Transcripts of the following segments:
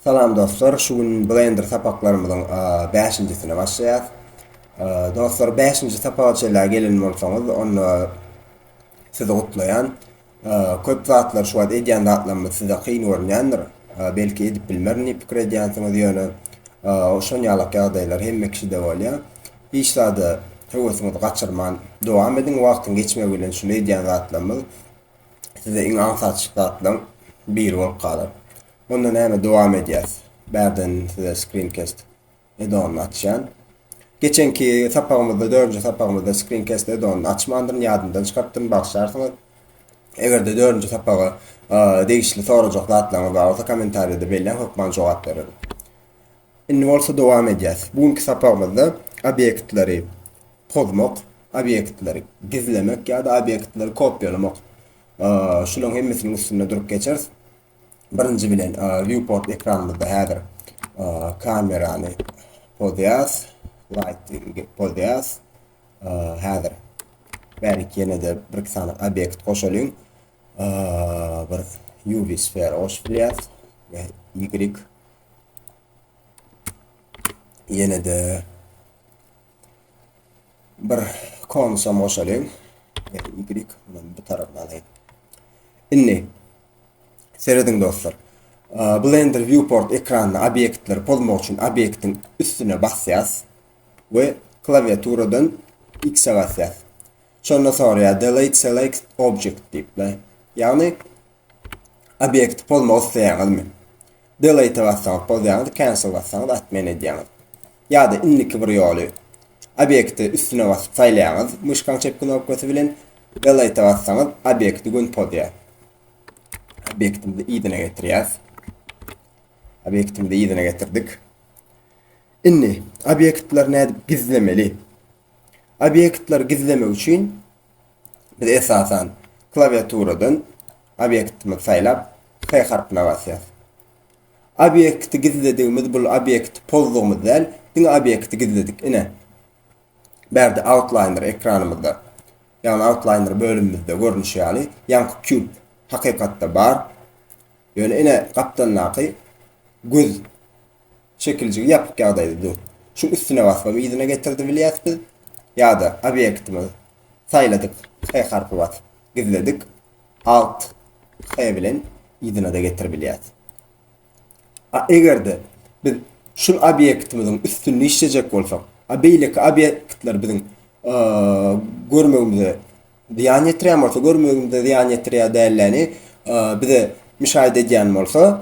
Salam dostlar şu gün blender sapaklarymyzyň bäşinjisine başlaýas. Dostlar bäşinji sapaga çenlä gelen bolsaňyz onda sizi gutlaýan. Köp zatlar şu wagt edýän zatlarymyz size kyn görünýändir. Belki edip bilmerin diýip pikir edýänsiňiz ýöne şon ýalak ýagdaýlar hemme kişide bolýar. Hiç zada höwesiňizi gaçyrman dowam ediň wagtyň geçmegi bilen şul edýän zatlarymyz size iň aňsat zatlaryň biri bolup galar. Onda näme dowam edýäs. Bärden size screencast edonyny açýan. Geçenki sapagymyzda dördünji sapagymyzda screencast edonyny açmandyryn ýadymdan çykartdyryn bagşlarsyňyz. Egerde dördünji sapaga degişli sorajak zatlaryňyz bar bolsa kommentariýada belläň hökman jogap bererin. Indi bolsa dowam edýäs. Bu günki sapagymyzda obýektleri pozmak, obýektleri gizlemek ýa-da obýektleri kopýalamak şularyň hemmesiniň üstünde durup geçeris. Birinji bilen viewport ekranymyzda häzir kamerany pozýas, lighting pozýas. Häzir bärik ýene-de bir iki sany obýekt goşalyň. Bir UV sfera goşup bilýäs we Y ýene-de Bir konusam goşalyň. Y muny bu tarafdan alaýyn. Indi serediň dostlar. Blender viewport ekranynda obýektleri pozmak üçin obýektiň üstüne basýas we klawiaturadan X basýas. Şonda soraýar delete select object diýip. Ýagny Obýekti pozmak isleýäňizmi? Delete bassaňyz pozýaňyz, cancel bassaňyz atmen edýäňiz. Ýa-da indiki bir ýoly obýekti üstüne basyp saýlaýaňyz myşkaň çep knopkasy bilen delete bassaňyz obýekti gün pozýar. Obýektimizi yzyna getirýäs. Obýektimizi yzyna getirdik. Indi obýektleri nädip gizlemeli? Obýektleri gizlemek üçin biz esasan klawiaturadan obýektimizi saýlap F harpyna basýarys. Obýekti gizledigimiz bu obýekti pozdugymyz däl, diňe obýekti gizledik. Ine. Bärde outliner ekranymyzda ýagny outliner bölümimizde görnüşi ýaly ýaňky kub hakykatda bar. Ýöne ine gapdandaky göz Çekiljigi ýapyk ýagdaýda dur. Şu üstüne basma yzyna getirdi bilýäs biz. Ýa-da obýektimiz saýladyk H harpy basyp gizledik. Alt H bilen yzyna-da getirip bilýäs. A eger-de biz şul obýektimiziň üstünde işlejek bolsak, a beýleki obýektler biziň görmegimize zyýan ýetirýän bolsa, görmegimize zyýan ýetirýär dälläni bize müşaýyda edýän bolsa,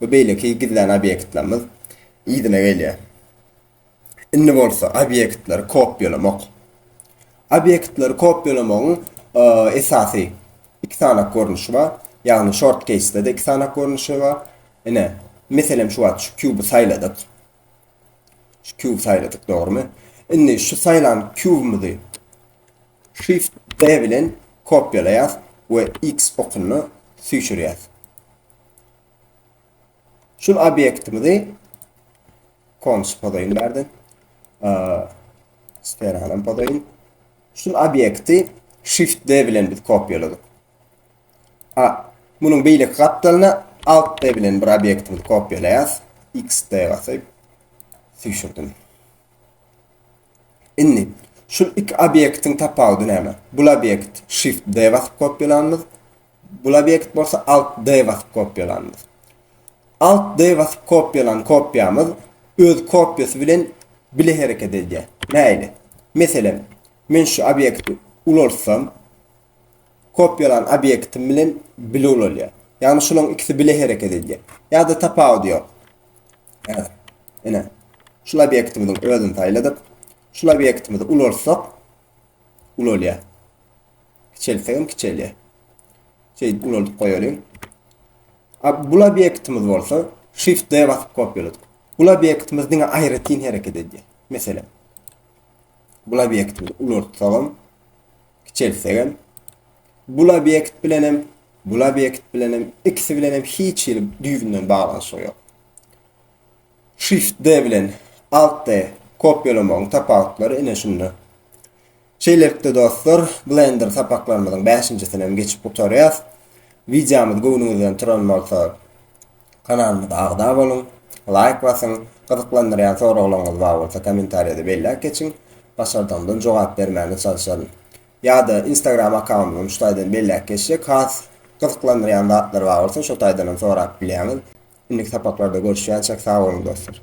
we beýleki gizlän obýektlerimiz yzyna gelýär. Indi bolsa obýektleri kopýalamak. Obýektleri kopýalamagyň esasy iki sany görnüşi bar. Ýagny short case-de iki sany görnüşi bar. Ine, meselem şu wagt şu kuby saýladyk. Şu kuby saýladyk, dogrymy? Indi şu saýlan kubymyzy Shift D bilen kopýalaýas we X okunyny süýşürýäs. Şul obýektimizi konus podaýyn bärde. Sferanam podaýyn. Şul obýekti Shift D bilen biz kopýaladyk. A, munuň beýleki gapdalyna Alt D bilen bir obýektimizi kopýalaýas. X D basyp süýşürdim. Indi şul iki obýektiň tapawudy näme? Bul obýekt Shift D basyp kopýalanymyz, Bul obýekt bolsa Alt D basyp kopýalanymyz. Alt D basyp kopýalan kopýamyz öz kopýasy bilen bile hereket edýär. Näile? Meselem, men şu obýekti ulaltsam, kopýalan obýektim bilen bile ulalýar. Ýagny şularyň ikisi bile hereket edýär. Ýa-da tapawudy ýok. Häzir, ine, şul obýektimiziň özüni saýladyk. Şul obýektimizi ulaltsak, ulalýar. Kiçeltsegem kiçelýär. Şeýdip ulaldyp goýalyň. Bul obýektimiz bolsa Shift D basyp kopýaladyk. Bul obýektimiz diňe aýratyn hereket edýär. Meselem, bul obýektimizi ulaltsagam, kiçeltsegem, bul obýekt bilen hem, bul obýekt bilen hem, ikisi bilen hem hiç hili düýbünden baglanyşygy ýok. Shift D bilen Alt D kopýalamagyň tapawutlary ine şunda. Şeýlelikde dostlar, Blender sapaklarymyzyň bäşinjisini hem geçip gutarýas. Wideomyz göwnüňizden turan bolsa, kanalymyza agza boluň, laýk basyň, gyzyklandyrýan soraglaryňyz bar bolsa kommentariýada belläp geçiň, başardygymdan jogap bermäne çalyşaryn. Ýa-da Instagram akkauntumyzam şu taýdan belläp geçjek, has gyzyklandyrýan zatlar bar bolsa şo taýdanam sorap bilýäňiz. Indiki sapaklarda görüşýänçäk sag boluň dostlar.